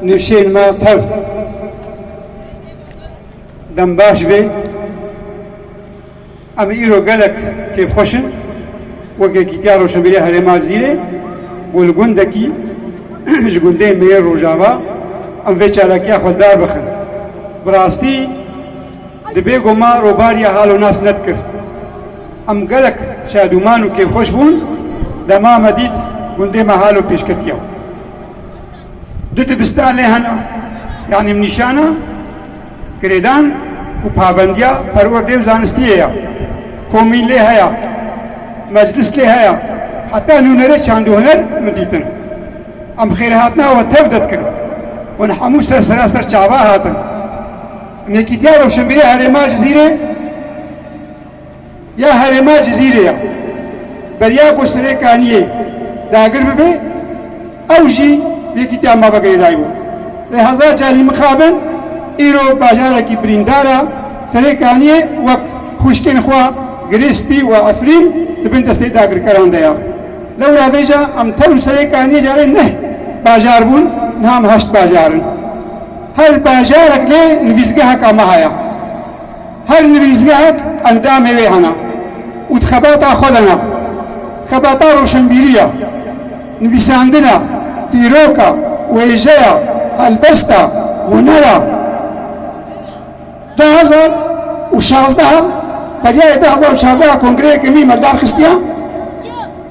Nûşên me tev dem baş bê. Em îro gelek kêfxweş in. Wek Yekîtiya Rojhilmîrê Herêma Zîrê ku li gundekî ji gundên me yên Rojava em vê çalakiya xwe darbixin. Bi rastî dibê ku me robariya hal û nas nedikir. Em gelek şadûman û kêfxweş bûn dema me dît gundê me halo pêşketiya. Du dibistan lê hene, yanî min nîşana girêdan û pabendiya perwerdeyê û zanistiyê ye. Komîn lê heye, meclis lê heye, heta nûnerê çand û huner min dîtin. Em xêrhatina we tev de dikin. Hûn hemû ser seraser çava hatin. Em Yekîtiya Rewşenbîrê Herêma Cizîrê. ya herêma Cizîrê ya beriya ku Sirê Kaniyê dagir bibe ew jî yekîtiya mafeke Êdayî bû. Lê hezar carî mixabin îro bajarekî birîndar a Sirê Kaniyê wek xwişkên xwe Girê Spî û Efrîn di bin destê dagirkeran de ya. Lewra vêja em tenû Sirê Kaniyê carê neh bajar bûn niha em heşt bajar in. Her bajarek lê nivîsgeheka me heye. Her nivîsgehek endamê wê hene û di xebata xwe de ne. Xebata roşenbîrî ye, nivîsandin e, dîrok e, wêje ye, helbest e, huner e. Du hezar û şazdeh e, beryayê du hezar û çardeh e kongreyeke nî me li dar xistiye.